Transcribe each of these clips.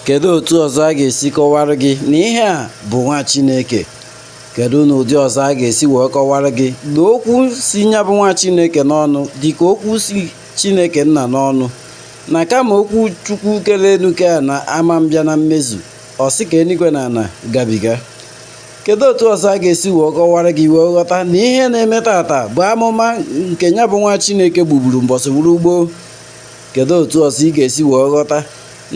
Kedu otu ọzọ a ga-esi kọwara gị na ihe a bụ nwa Chineke? Kedu na ụdị ọzọ a ga-esi wee kọwara gị na okwu si nya bụ nwa Chineke n'ọnụ dị ka okwu si Chineke nna n'ọnụ na kama okwu Chukwu kere enu kee ana ama mbịa na mmezu ọ sị ka enuigwe na ana gabiga kedu otu ọzọ a ga-esi wee kọwara gị wee ghọta na ihe na-eme tata bụ amụma nke nya bụ nwa Chineke buburu mbọsị gburu gboo Kedu otu ọzọ ị ga-esi wee ghọta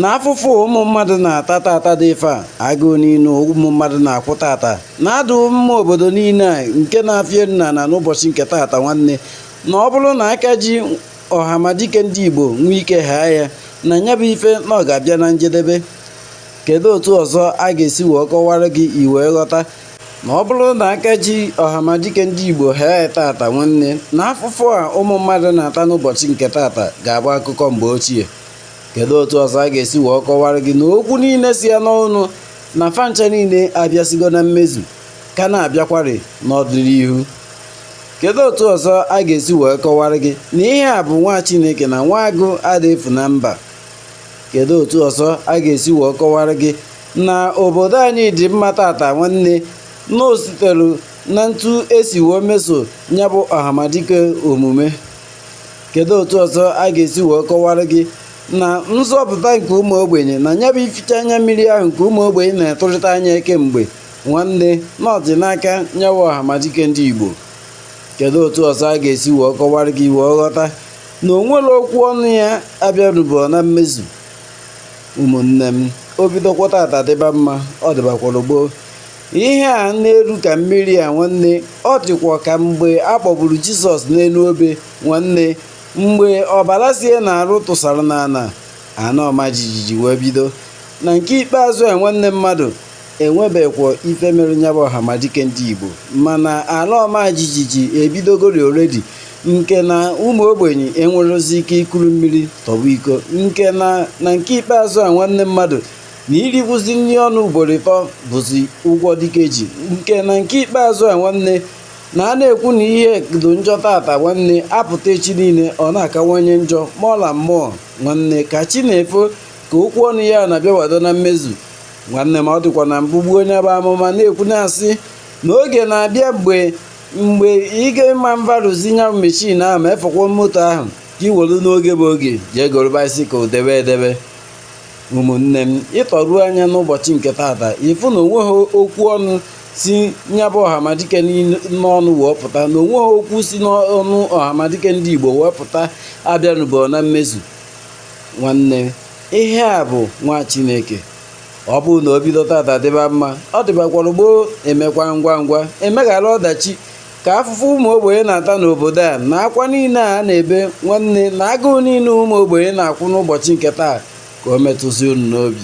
na afụfụ ụmụ mmadụ na-ata tata dị ife a agụụ niile ụmụ mmadụ na-akwụ tata na-adụ mma obodo niile a nke na-afịa nna na n'ụbọchị nke tata nwanne na ọ bụrụ na aka ji ọhamadike ndị Igbo nwee ike haa ya na nya bụ ife na ọ ga-abịa na njedebe kedu otu ọzọ a ga-esi wee kọwara gị ị wee ghọta na ọ bụrụ na aka ji ọhamadike ndị Igbo haa ya tata nwanne na afụfụ a ụmụ mmadụ na-ata n'ụbọchị nke tata ga-abụ akụkọ mgbe ochie kedu otu ọzọ a ga-esi wee kọwara gị na okwu niile si ya n'ọnụ na fa ncha niile abịasigo na mmezu ka na-abịakwari n'ọdịnihu kedu otu ọzọ a ga-esi wee kọwara gị na ihe a bụ nwa Chineke na nwa agụ ada efu na mba Kedu otu ọzọ a ga-esi wee kọwara gị na obodo anyị dị mma tata nwanne na o sitere na etu e si wee meso nya bụ ọhamadike omume kedu otu ọzọ a ga-esi wee kọwara gị na nzọpụta nke ụmụ ogbenye na ya bụ ificha anya mmiri ahụ nke ụmụ ogbenye na-etụrịta anya kemgbe nwanne na ọ dị n'aka nya bụ ọhamadike ndị Igbo kedu otu ọzọ a ga-esi wee kọwara gị ị wee ghọta na o nwerọ okwu ọnụ ya abịarubọ na mmezu ụmụnne m o bidokwa tata dịba mma ọ dịbakwara gboo ihe a na-eru ka mmiri a nwanne ọ dịkwa ka mgbe a kpọgburu jizọs n'enu obe nwanne mgbe ọbara sie n'arụ tụsara n'ana ana ọma jijiji wee bido na nke ikpeazụ a nwanne mmadụ enwebekwọ ife mere nya bụ ọhamadike ndị Igbo mana ala ọma jijiji ebidogori already nke na ụmụ ogbenye enwerọzi ike ikuru mmiri tọgbọ iko nke na na nke ikpeazụ a nwanne mmadụ na irikwuzi nri ọnụ ugboro ịtọ bụzi ụgwọ dike ji nke na nke ikpeazụ a nwanne na a na-ekwu na ihe dị njọ tata nwanne apụta echi niile ọ na-akawanye njọ mọla mmụọ nwanne ka chi na-efo ka okwu ọnụ ya na-abịawado na mmezu nwanne ma ọ dịkwa na mbụ gboo onye bụ amụma na-ekwu na-asị na oge na-abịa mgbe mgbe ị ga-ịma mvarụzi nya bụ mechin ahụ ma efọkwa moto ahụ ka ị welu n'oge bụ oge jee goro baisikụl debe edebe ụmụnne m ị tọruo anya n'ụbọchị nke tata ị fụ na onweghị okwu ọnụ si nya bụ ọhamadike n'ọnụ wee pụta na onweghị okwu si n'ọnụ ọhamadike ndị igbo wee pụta abịanụbọ na mmezu nwanne ihe a bụ nwa chineke ọ bụrụ na o bido tata dịba mma ọ dịbakwara gboo emekwa ngwa ngwa emeghara ọdachi ka afụfụ ụmụ ogbenye na-ata n'obodo a na akwa niile a na-ebe nwanne na agụụ niile ụmụ ogbenye na-akwụ n'ụbọchị nke taa ka o metụzi unu n'obi